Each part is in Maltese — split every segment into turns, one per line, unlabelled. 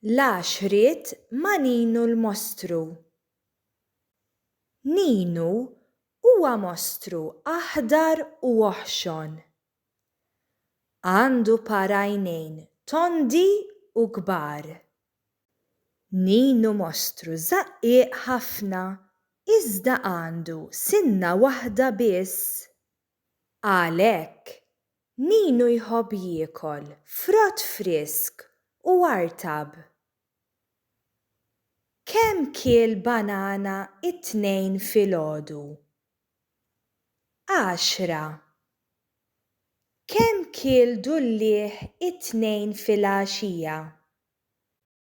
La x'ried ma' Ninu l-mostru. Ninu huwa mostru aħdar u oħxon. Għandu par għajnejn tondi u kbar. Ninu mostru żaqqieq ħafna iżda għandu sinna waħda biss. Għalhekk, Ninu jħobb jiekol frott frisk u artab. Kemm kiel banana t-Tnejn filgħodu? Għaxra. Kemm kiel dulliegħ it-Tnejn filgħaxija?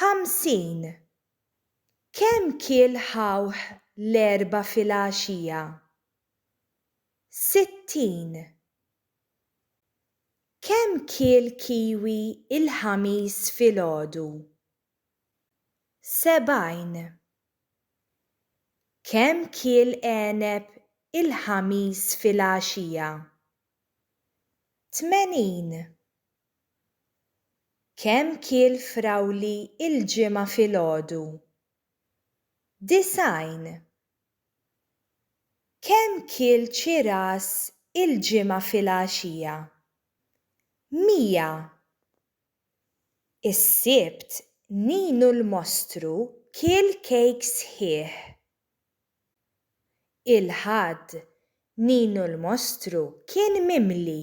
Ħamsin! Kemm kiel ħawh l-Erbgħa filgħaxija? Sittin! Kemm kiel kiwi l-Ħamis filgħodu? Sebgħin! Kemm kiel għeneb il-Ħamis filgħaxija? Tmenin! Kemm kiel frawli il-Ġimgħa filgħodu? Disgħin. Kemm kiel ċiras il-Ġimgħa filgħaxija? Mija. Is-Sibt Ninu l-mostru kiel kejk sħiħ. Il-Ħadd Ninu l-mostru kien mimli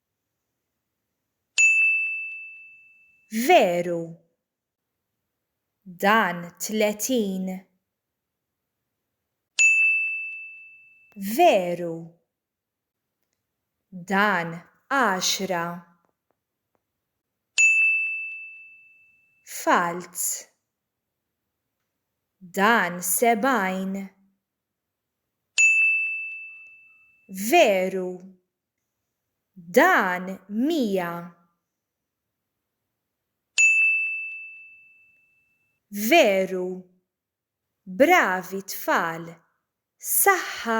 Veru. Dan tletin. Veru. Dan għaxra. Falz. Dan sebgħin. Veru. Dan mija. Veru. Bravi tfal. Saħħa.